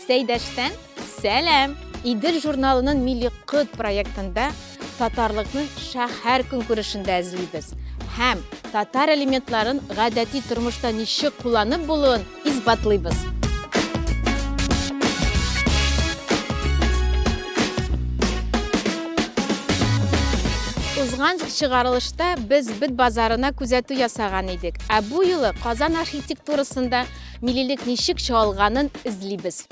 Сәйдәштән сәлам! Идел журналының Милли кыт проектында татарлыкны шәһәр көнкүрешендә эзлибез һәм татар элементларын гадәти тормышта ничек кулланып булуын исбатлыйбыз. Узган чыгарылышта без бит базарына күзәтү ясаган идек, ә бу юлы Казан архитектурасында Милилек ничек чоалганын эзлибез.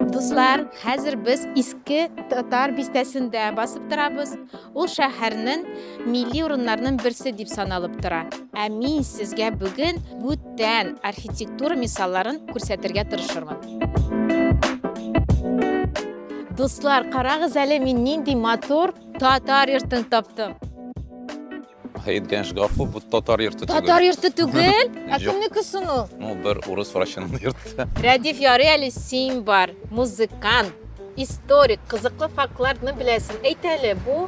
Дуслар, хәзер без иске татар бистәсендә басып торабыз. Ул шәһәрнең милли урыннарның берсе дип саналып тора. Ә мин сезгә бүген бүтән архитектура мисалларын күрсәтергә тырышырмын. Дуслар, карагыз әле мин нинди матур татар йортын таптым. Әйткәнш гафу, бу татар йорты түгел. Татар йорты түгел? Ә кемнеке соң ул? Ну, бер урыс врачының йорты. Рәдиф ярый әле син бар, музыкант, историк, кызыклы фактларны беләсең. Әйт әле, бу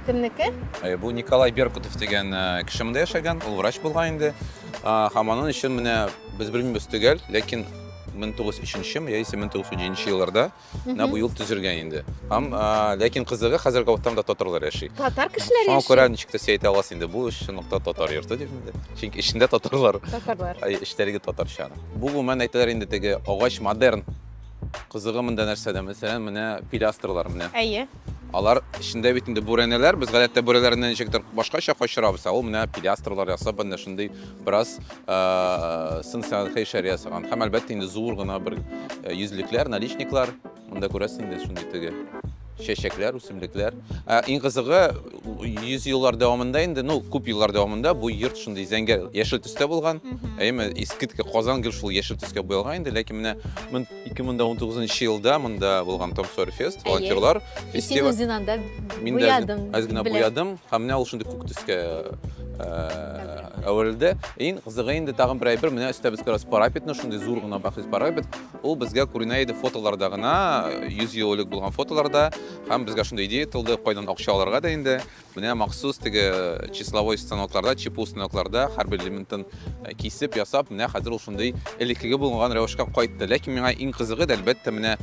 кемнеке? Э, бу Николай Беркутов дигән э, кеше монда яшәгән, ул врач булган инде. Һәм аның өчен менә без белмибез төгәл, ләкин 1903 яисә 1907 елларда Менә бу юл төзелгән инде. Һәм ләкин кызыгы хәзер Гауттамда татарлар яши. Татар кешеләре яши. Шуңа күрә ничек тә сәйт аласыз инде. Бу эш нокта татар йорты дип инде. Чөнки эчендә татарлар. Татарлар. Ай, эчтәлеге татарча. Бу гомумән әйтәләр инде теге агач модерн. Кызыгы монда нәрсәдә? Мәсәлән, менә пилястрлар менә. Әйе. Алар эчендә бит инде бүрәнәләр. Без гадәттә бүрәнәләрне ничектер башкача качырабыз, ә ул менә пилястрлар ясап, менә шундый Бераз сын сәнгатькә ишарә ясаган. Һәм әлбәттә инде зур гына бер йөзлекләр, наличниклар. Монда күрәсең инде шундый теге чәчәкләр, үсемлекләр. Ә иң кызыгы 100 еллар дәвамында инде, ну, күп еллар дәвамында бу йорт шундый зәңгәр яшел төстә булган. Әйеме, искиткеч Казан гел шул яшел төскә буялган инде, ләкин менә 2019 нчы елда монда булган Том Сойер фест, волонтерлар фестиваль. Син үзен анда буядың. Аз гына буядым, һәм менә ул шундый күк төскә әверелде. Иң кызыгы инде тагын бер әйбер, менә өстә безгә парапетны, шундый зур гына бәхәс парапет. Ул безгә күренә иде фотоларда гына, 100 ел элек булган фотоларда, һәм безгә шундый идея тылды, кайдан акча алырга да инде. Менә махсус теге числовой станокларда, чипу станокларда һәрбер элементын э, кисеп, ясап, менә хәзер ул шундый элеккеге булган рәвешкә кайтты. Ләкин миңа иң кызыгы, әлбәттә, менә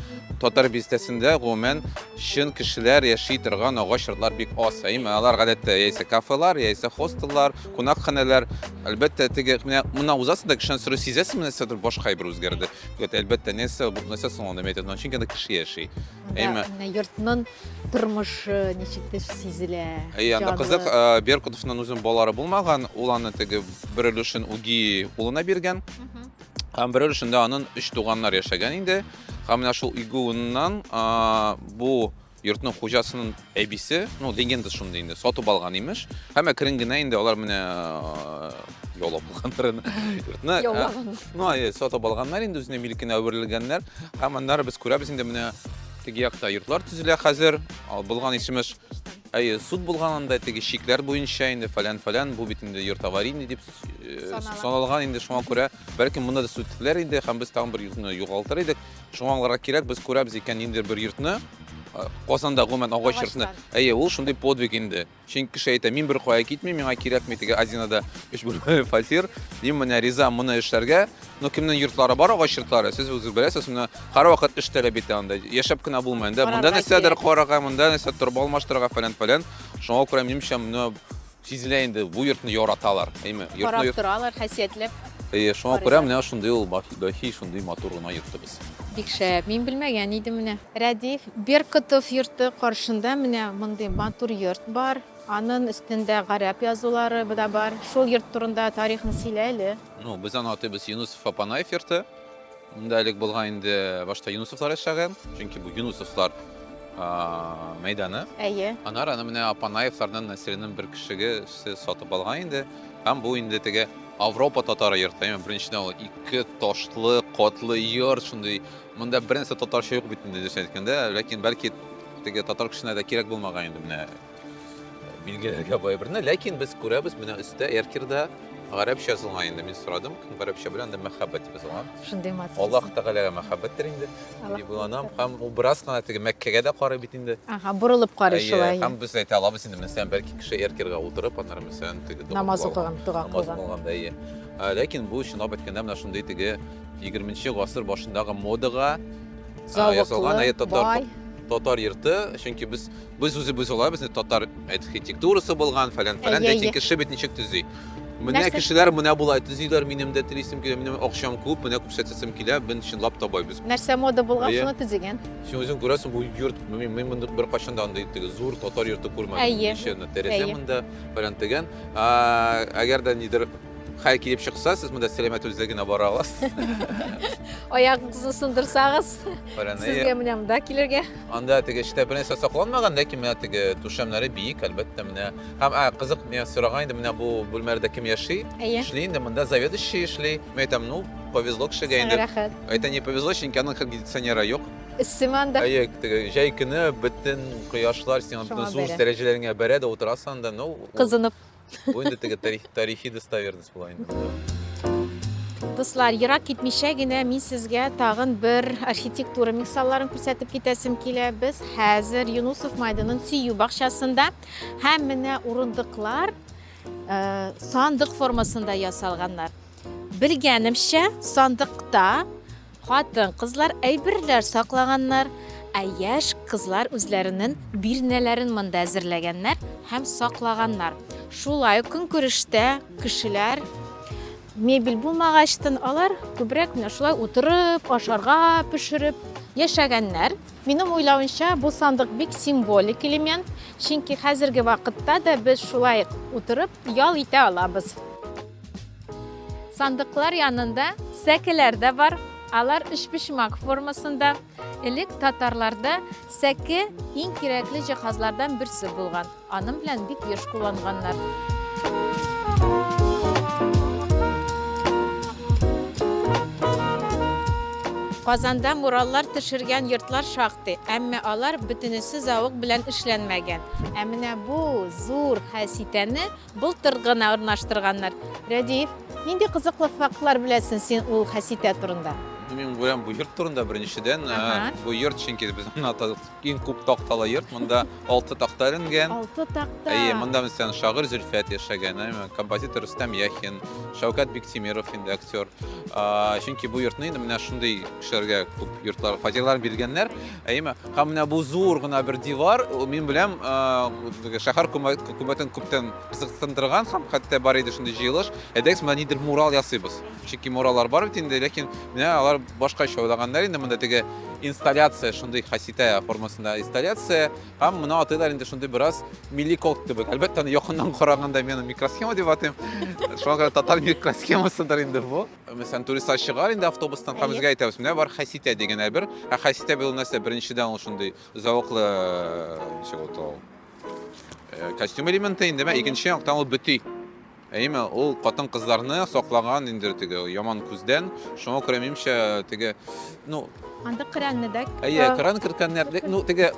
татар бистәсендә гомумән чын кешеләр яши торган агач йортлар бик аз. Ә именно алар гадәттә яисә кафелар, яисә хостеллар, кунакханәләр. Әлбәттә, теге менә мына узасыз да кешедән сорый сизәсез, менә сәдер башка әйбер үзгәрде. Әлбәттә, нәрсә бу нәрсә соң ул нәмәйтен, чөнки анда кеше яши. Әйме. Менә йортның тормышы ничектер сизелә. Әй, анда җанлы. кызык, э, Беркутовның үзен балалары булмаган, ул аны теге бер өлешен үги улына биргән. Мгм. Һәм бер өлешендә аның өч туганнар яшәгән инде. Һәм менә шул игүеннән бу йортның хуҗасының Әбисе, ну, легенда шундый инде, сатып алган имеш. Һәм әкрен генә инде алар менә яулап алганнар аны. Йортны яулаган. Ну, ай, сатып алганнар инде үзенә милкенә әверелгәннәр. Һәм аннары без күрәбез инде менә теге якта йортлар төзелә хәзер. Ал булган ишемеш Әйе, суд булган анда теге шикләр буенча инде фәлән-фәлән, бу бит инде йорт аварийный дип саналган инде шуңа күрә, бәлки монда да сүтелер иде һәм без тагын бер йортны югалтыр идек. Шуңа аңларга кирәк, без күрәбез икән инде бер йортны, Казанда гомумән агач йортны. Әйе, ул шундый подвиг инде. Чөнки кеше әйтә, мин бер кая китмим, миңа кирәкми теге Азинада өч бүлмәле фатир. Мин менә риза моны эшләргә. Но кемнең йортлары бар агач йортлары, сез үзе беләсез, менә һәрвакыт эш таләп итә анда. Яшәп кенә булмый. Монда нәрсәдер карарга, монда нәрсә торба алмаштырырга фәлән-фәлән. Шуңа күрә минемчә, Сизелә инде, бу йортны яраталар, әйме? Карап торалар, хәсиятләп. Әйе, шуңа күрә менә шундый ул бәхи, шундый матур гына йортыбыз. Бик шәп, мин белмәгән идем менә. Рәдиф Беркотов йорты каршында менә мондый матур йорт бар. Анын өстендә гарәп язулары да бар. Шул йорт турында тарихын сөйлә әле. Ну, без аны атыйбыз Юнысов-Апанаев йорты. Монда элек булган инде башта Юнусовлар яшәгән, чөнки бу Юнусовлар мәйданы. Әйе. Анар аны менә Апанаевлардан Насиринең бер кешеге сатып алган инде. Һәм бу инде теге Авропа татары йорты. Яме беренчедән ул ике ташлы, котлы йорт шундый. Монда бернәрсә татарча юк бит инде дөрес әйткәндә, ләкин бәлки теге татар кешенә дә кирәк булмаган инде менә Билгеләргә бай берне, ләкин без күрәбез, менә өстә Эркирда гарәпчә язылган инде. Мин сорадым, гарәпчә белән дә мәхәббәт дип язылган. Шундый матур. Аллаһ Тәгаләгә мәхәббәттер инде. Дип уйланам. Һәм ул бераз гына теге Мәккәгә дә карый бит инде. Ага, борылып карый шулай. Һәм без әйтә алабыз инде, мәсәлән, бәлки кеше Эркирга утырып, аннары мәсәлән, теге намаз укыган, дога кылган. Намаз укыган, әйе. Ләкин бу чынлап әйткәндә менә шундый теге 20 гасыр башындагы модага язылган, әйе, татар татар йорты, чөнки без Без үзебез алай безне татар архитектурасы булган, фәлән, фәлән, әйе, әйе. кеше бит ничек төзи. Менә Нәрсә? кешеләр менә болай төзиләр, минем дә телисем килә, минем акчам күп, менә күрсәтәсем килә, мен чынлап табайбыз. Нәрсә мода булган, Әйе. шуны төзегән. Син үзең күрәсең, бу йорт, мин, мин монда беркайчан да андый теге зур татар йорты күрмәдем. Әйе. Ничә генә тәрәзә Әйе. монда, фәлән тегән. А, Әгәр дә нидер хәл килеп чыкса, сез монда сәламәт үзегез генә бара аласыз. Аягыгызны сындырсагыз, Фәлән, әйе. сезгә менә монда килергә. Анда теге эчтә бернәрсә сакланмаган, ләкин менә теге түшәмнәре биек, әлбәттә, менә. Һәм ә, кызык, миңа сораган иде, менә бу бүлмәләрдә кем яши? Әйе. Эшли инде, монда заведующий эшли. Мин әйтәм, ну, повезло кешегә Сиңа инде. рәхәт. Әйтә, не повезло, чөнки аның кондиционеры юк. Эссеме анда? Әйе, теге җәй көне бөтен кояшлар сиңа Шуңа бөтен зур бәрә. дәрәҗәләреңә бәрә дә утырасың анда, ну, ул- Кызынып. Бу инде теге тарихи достоверность була инде. Дуслар, ерак китмичә генә мин сезгә тагын бер архитектура мисалларын күрсәтеп китәсем килә. Без хәзер Юнусов майданын сөю бакчасында һәм менә урындыклар э, сандык формасында ясалганнар. Белгәнемчә, сандыкта Хатын, кызлар әйберләр саклаганнар, ә яшь кызлар үзләренең бирнәләрен монда әзерләгәннәр һәм саклаганнар. Шулай көнкүрештә кешеләр мебель булмагачтын алар күбрәк менә шулай утырып, ашарга пешереп яшәгәннәр. Минем уйлавымча, бу сандык бик символик элемент, чөнки хәзерге вакытта да без шулай утырып ял итә алабыз. Сандыклар янында сәкеләр дә бар. Алар өчпочмак формасында. Элек татарларда сәке иң кирәкле җиһазлардан берсе булган. Аның белән бик еш кулланганнар. Казанда мураллар төшергән йортлар шактый, әмма алар бөтенесе зәвык белән эшләнмәгән. Ә менә бу зур хәситәне Былтыр гына урнаштырганнар. Рәдиев, нинди кызыклы фактлар беләсең син ул хәситә турында? Мин беләм бу йорт турында беренчедән. Ага. Бу йорт чөнки безнең ата иң күп такталы йорт. Монда алты такта эленгән. Алты такта. Әйе, монда мәсәлән шагыйрь Зөлфәт яшәгән, әйме, композитор Рөстәм Яхин, Шәүкәт Биктимиров инде актер. А, Чөнки бу йортны инде менә шундый кешеләргә күп йортлар фатирлар биргәннәр. Әйеме? Һәм менә бу зур гына бер дивар, мин беләм, шәһәр хөкүмәтен күптән кызыксындырган һәм хәтта бар иде шундый җыелыш. Әйдәгез, менә нидер мурал ясыйбыз. Чөнки муралар бар бит инде, ләкин менә алар башкача уйлаганнар инде монда теге инсталляция, шундый хаситә формасында инсталляция. Һәм моны атыйлар инде шундый бераз милли код кебек. Әлбәттә, аны якыннан караганда мин микросхема дип атыйм. Шуңа күрә татар микросхемасыдыр инде бу. Мәсәлән, туристлар чыгар инде автобустан, һәм безгә әйтәбез, менә бар хәситә дигән әйбер. Ә хәситә бил нәрсә? Беренчедән ул шундый зәвыклы, ничек ул тол. Э, костюм элементы инде, икенче яктан ул бөти. Әйме, ул хатын-кызларны саклаган инде теге яман күздән. Шуңа күрә минемчә теге, ну, анда кранны да. Әйе, кран керткәннәр, ну, теге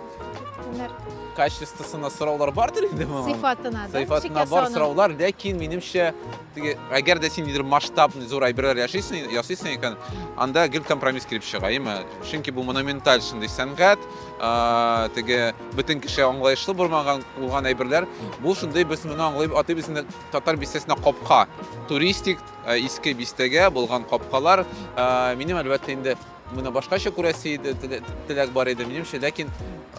качествосына сораулар бардыр инде моңа. Сыйфатына да. Сыйфатына бар сораулар, ләкин минемчә Теге, әгәр дә син нидер масштабный зур әйберләр яшисең, ясыйсың икән, анда гел компромисс килеп чыга, яме. Чөнки бу монументаль шундый сәнгать, а, теге бөтен кеше аңлаешлы булмаган булган әйберләр, бу шундый без моны аңлыйб, атыйбыз инде татар бистәсенә капка. Туристик, а, иске бистәгә булган капкалар, а, минем әлбәттә инде Моны башкача күрәсе иде, теләк бар иде, минемчә, ләкин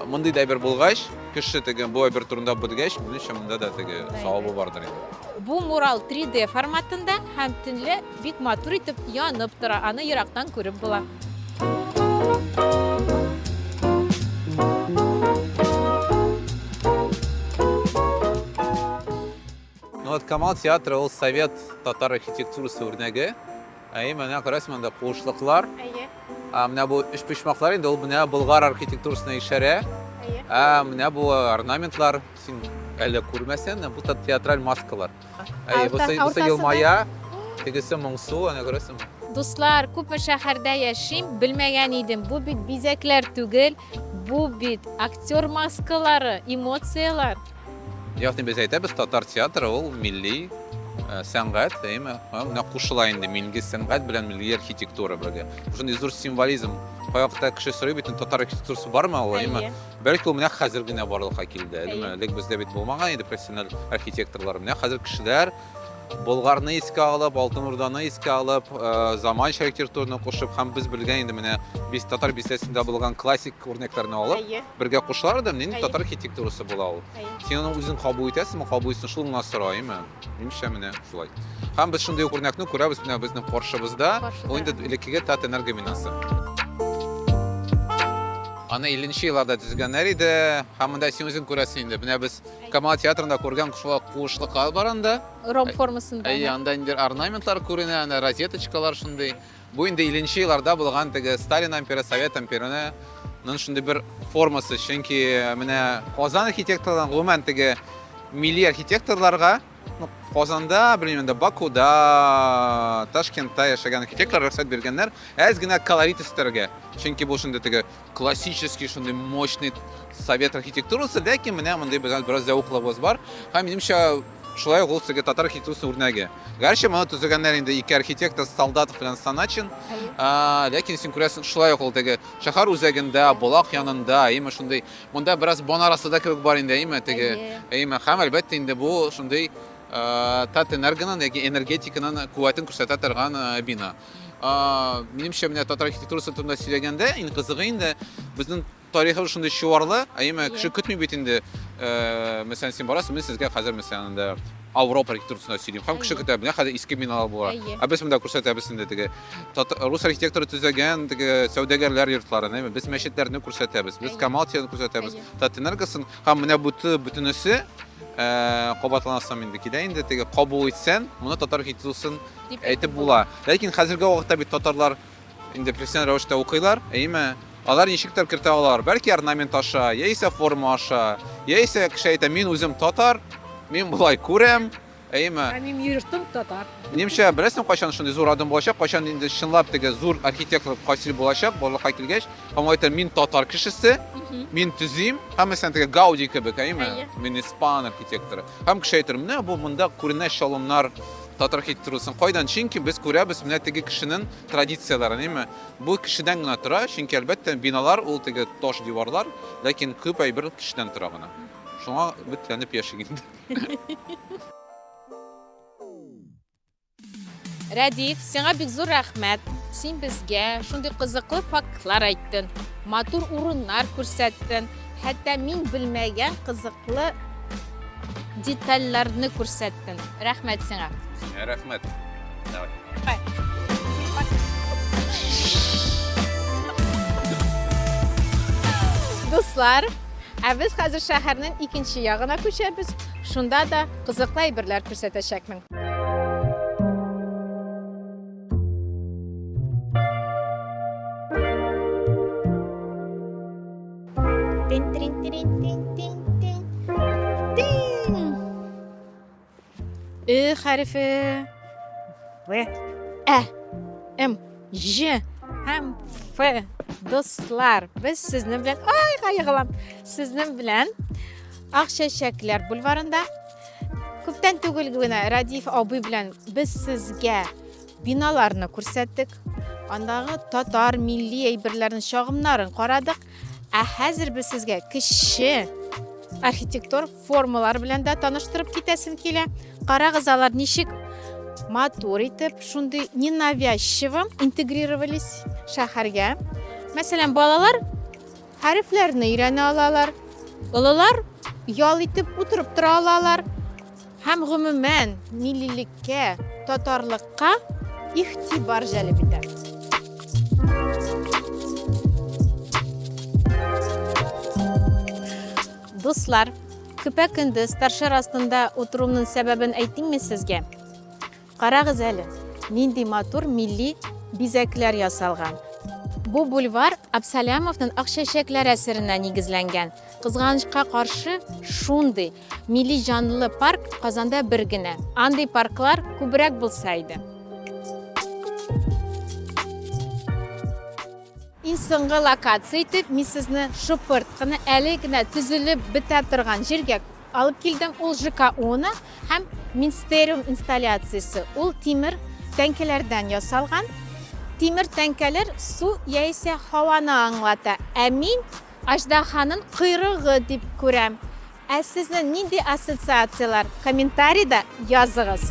мондый да әйбер булгач, кеше теге бу әйбер турында белгәч, минемчә, монда да теге савабы бардыр инде. Бу мурал 3D форматында һәм төнлә бик матур итеп янып тора, аны ерактан күреп була. Ну вот Камал театры ул совет татар архитектурасы үрнәге. Әйе, менә күрәсез монда куышлыклар. Әйе. Ә менә бу өч почмаклар инде ул менә болгар архитектурасына ишарә. Әйе. Ә менә бу орнаментлар син әле күрмәсән, бу та театраль маскалар. Әйе, бу сый елмая, тегесе моңсу, ана күрәсең. Дуслар, күпме шәһәрдә яшим, белмәгән идем. Бу бит бизәкләр түгел, бу бит актер маскалары, эмоцияләр. Ягъни без әйтәбез, татар театры ул милли э, сәнгать, әйме? Менә кушыла инде милли сәнгать белән милли архитектура бергә. Шундый зур символизм. Кайвакытта кеше сорый бит, татар архитектурасы бармы ул, әйме? Бәлки ул менә хәзер генә барлыкка килде, әйме? Элек бездә бит булмаган иде профессиональ архитекторлар. Менә хәзер кешеләр Болгарны искә алып, Алтын Урданы искә алып, э, заманча архитектураны кушып һәм без белгән инде менә без татар бистәсендә булган классик үрнәкләрне алып, Әйе. бергә кушалар да, нинди Әйе. татар архитектурасы була ул. Әйе. Син аны үзең кабул итәсеңме, кабул итсең, шул гына сораймы? Минемчә менә шулай. Һәм без шундый ук үрнәкне күрәбез менә безнең каршыбызда. Каршыда. Ул инде элеккеге Татэнерго бинасы. Аны 50 нче елларда төзегәннәр иде. Һәм монда син үзең күрәсең инде. Менә без Камал театрында күргән шула куышлыклар бар анда. Ром формасында. Әйе, анда инде орнаментлар күренә, ана розеточкалар шундый. Бу инде 50 елларда булган теге Сталин амперы, Совет амперына нын шундый бер формасы, чөнки менә Казан архитекторларына гомумән теге милли архитекторларга Ну, Казанда, белмим, да Бакуда, Ташкентта яшәгән архитектор рөхсәт биргәннәр, әз генә колорит өстәргә. Чөнки бу шундый теге классический, шундый мощный совет архитектурасы, ләкин менә мондый безгә бераз зәвыклыгыбыз бар. Һәм минемчә, шулай ук ул теге татар архитектурасы үрнәге. Гәрчә моны төзегәннәр инде ике архитектор, Солдатов белән Саначин. А, ләкин син күрәсең, шулай ук ул теге шәһәр үзәгендә, Болак янында, именно шундый Монда бераз бон арасы да кебек бар инде, әйеме? Теге, әйеме, хәм әлбәттә инде бу шундый Татэнергоның яки энергетиканың куәтен күрсәтә торган бина. Минемчә, менә татар архитектурасы турында сөйләгәндә, иң кызыгы инде безнең тарихыбыз шундый чуарлы, әйеме, кеше көтми бит инде. Мәсәлән, син барасың, мин сезгә хәзер мәсәлән инде Авропа архитектурасында сөйлим. Һәм кеше көтә, менә хәзер иске биналар була. Ә без монда күрсәтәбез инде теге рус архитекторы төзегән теге сәүдәгәрләр йортларын әйме без мәчетләрне күрсәтәбез без коммалтияны күрсәтәбез татэнергосын һәм менә буты бөтенесе э, кабатланасам инде килә инде теге кабул итсән моны татар архитектурасын әйтеп була ләкин хәзерге вакытта бит татарлар инде профессиональ рәвештә укыйлар әйме алар ничектер кертә алар бәлки орнамент аша яисә форма аша яисә кеше әйтә мин үзем татар мин болай күрәм Әйеме? Ә минем йортым татар. Минемчә, беләсең, кайчан шундый зур адым булачак, кайчан инде чынлап теге зур архитектор Касил булачак, барлыкка килгәч, һәм ул әйтә, мин татар кешесе, мин төзим, һәммәсенә теге Гауди кебек, әйеме? Әйе. Мин испан архитекторы. Һәм кеше әйтер, менә бу монда күренә чалымнар татар архитектурасын. Кайдан? Чөнки без күрәбез менә теге кешенең традицияләрен, әйеме? Бу кешедән генә тора, чөнки әлбәттә биналар ул теге таш диварлар, ләкин күп әйбер кешедән тора гына. Шуңа өметләнеп яшик инде. Рәдиф, сиңа бик зур рәхмәт. Син безгә шундый кызыклы фактлар әйттең, матур урыннар күрсәттең, хәтта мин белмәгән кызыклы детальләрне күрсәттең. Рәхмәт сиңа. Сиңа рәхмәт. Давай. Дуслар, Ә без хәзер шәһәрнең икенче ягына күчәбез. Шунда да кызыклы әйберләр күрсәтәчәкмен. Ө хәрефе. В. Ә. М. Ж. Һәм Ф. Дуслар, без сезнең белән, ай, кайгылам. Сезнең белән Акчәчәкләр бульварында күптән түгел генә Радиф абый белән без сезгә биналарны күрсәттек. Андагы татар милли әйберләрен, чагымнарын карадык. Ә хәзер без сезгә кече архитектор Формалар белән дә таныштырып китәсем килә. Карагыз, алар ничек матур итеп, шундый ненавязчиво интегрировались шәһәргә. Мәсәлән, балалар хәрефләрне өйрәнә алалар, олылар ял итеп утырып тора алалар һәм гомумән миллилеккә, татарлыкка игътибар җәлеп итә. Дуслар, көпә-көндез торшер астында утыруымның сәбәбен әйтимме сезгә? Карагыз әле, нинди матур милли бизәкләр ясалган. Бу бульвар Абсалямовның Ак чәчәкләр әсеренә нигезләнгән. Кызганычка каршы, шундый милли җанлы парк Казанда бер генә. Андый парклар күбрәк булса иде. Иң соңгы локация итеп мин сезне шупырт кына әле генә төзелеп бетә торган җиргә алып килдем. Ул ЖКУны һәм Минстериум инсталляциясе. Ул тимер тәңкәләрдән ясалган. Тимер тәңкәләр су яисә һаваны аңлата. Ә мин Аждаһаның койрыгы дип күрәм. Ә сезнең нинди ассоциацияләр? Комментарийда языгыз.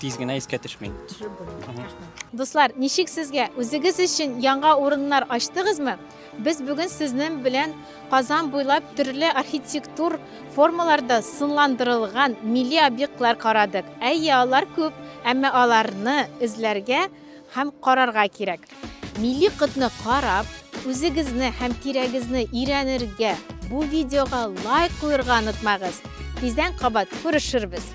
Тиз генә искә төшмей. Төшереп булмый. Рәхмәт. Дуслар, ничек сезгә? Үзегез өчен яңа урыннар ачтыгызмы? Без бүген сезнең белән Казан буйлап төрле архитектур формаларда сынландырылган милли объектлар карадык. Әйе, алар күп, әмма аларны эзләргә һәм карарга кирәк. Милли котны карап, үзегезне һәм тирәгезне өйрәнергә, бу видеога лайк куерга онытмагыз. Тиздән кабат күрешербез.